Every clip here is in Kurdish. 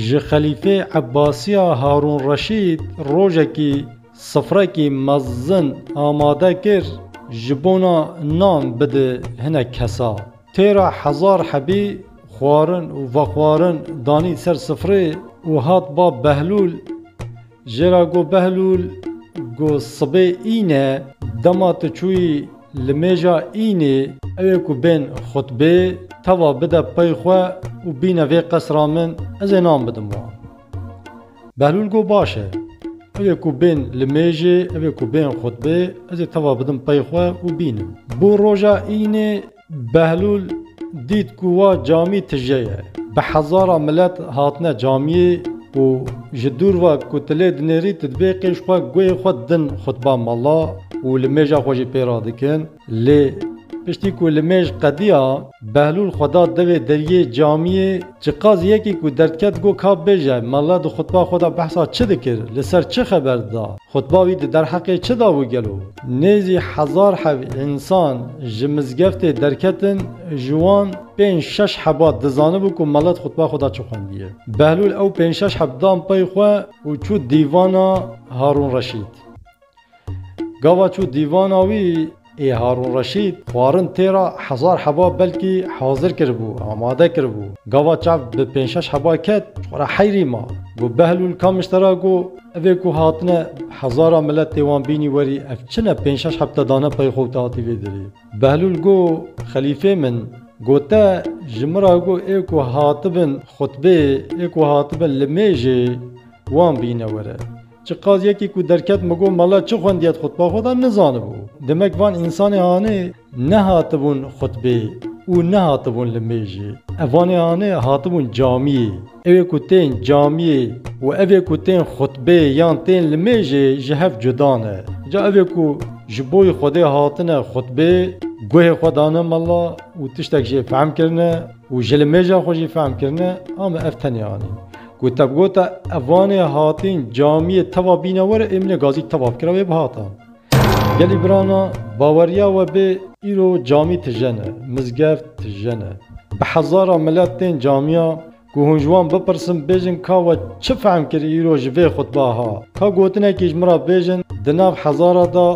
Ji xelîfê Ebbasiya Harûn Reşîd rojekî sifrekî mezin amade kir ji bona nan bide hinek kesa. Têra hezar hebî xwarin û vexwarin danî ser sifrê û hat ba Behlûl, Jê ra got Behlûl, Got sibê în e, dema tu çûyî li mêja înê, ewê ku bên xutbê teva bide pey xwe û bîne vê qesra min, ez ê nan bidim wan. Behlûl got Baş e, ewê ku bên li mêjê, ewê ku bên xutbê, ez ê teva bidim pey xwe û bînim. Bû roja înê, Behlûl dît ku wa camî tije ye. Bi hezaran milet hatine camiyê û ji dûr ve ku tu lê dinêrî tu dibê qîj xwe guhê xwe din xutba mala û li mêja xwe jî pê re dikin. Lê piştî ku li mêj qediya, Behlûl xwe da devê deriyê camiyê. Ji qaz yekî ku derdket got ka bibêje, Malla di xutba xwe de behsa çi dikir, li ser çi xeber dida, xutba wî di derheqê çi da bû gelo? Nêzî hezar hev însan ji mizgeftê derketin, ji wan pênc şeş heba dizanibû ku Malla di xutba xwe de çi xwendiye. Behlûl ew pênc şeş heb dan pey xwe û çû dîvana Harûn Reşîd. Gava çû dîvana wî ê Harûn Reşîd xwarin tê re hezar heba belkî hazir kiribû, amade kiribû. Gava çav bi pênc şeş heba ket, xwe re heyrî ma. Got Behlûl Kamiş te re got, Evê ku hatine hezara milet tê wan bînî werî ev çi ne pênc şeş heb te dane pey xwe û te hatî vê dirî. Behlûl got Xelîfê min, got te ji min re got ê ku hatibin xutbê, ê ku hatibin li mêjê wan bîne were. Çi qas yekî ku derket min got mala çi xwendiye di xutba xwe de nizanibû. Demek van însanê hanê nehatibûn xutbê û nehatibûn li mêjê. Ev vanê hanê hatibûn camiyê. Ew ê ku tên camiyê û ev ê ku tên xutbê yan tên li mêjê ji hev cuda ne. Ca ev ê ku ji bo yê Xwedê hatine xutbê, guhê xwe dane mala û tiştek jê fehm kirine û ji li mêja xwe jî fehm kirine, ame ev tenê anî. Ku te bigota ev vanê hatîn camiyê teva bîne were êmîne gazî teva bikira wê bihata. Gelî birana baweriya we bê îro camî tijene, mizgeft tijene. Bi hezara milet tên camiya ku hûn ji wan bipirsin bêjin ka we çi fehm kir îro ji vê xutba ha. Ka gotinekî ji min re bêjin di nav hezara de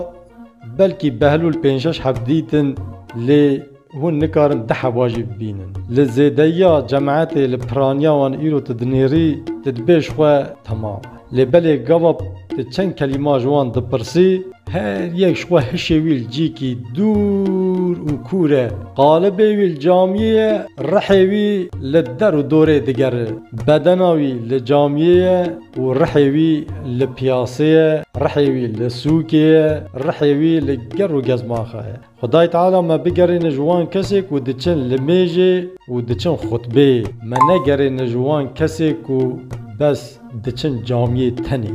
belkî Behlûl pênc şeş hevdîtin lê Hûn nikarin di hewa jî bibînin. Li zêdeyiya cemetê li piraniya wan îro tu dinêrî, tu dibê ji xwe temam e. Lê belê gava tu çend kelîma ji wan dipirsî, her yek ji xwe hişê wî li cîkî dûr û kûr e, qalibê wî li camiyê ye, rihê wî li der û dorê digere. Bedena wî li camiyê ye û rihê wî li piyasê ye, rihê wî li sûkê ye, rihê wî li ger û gezmaxa ye. Xwedayê Teala me bigerêne ji wan kesê ku diçin li mêjê û diçin xutbeyê. Me negerêne ji wan kesê ku bes diçin camiyê tenê.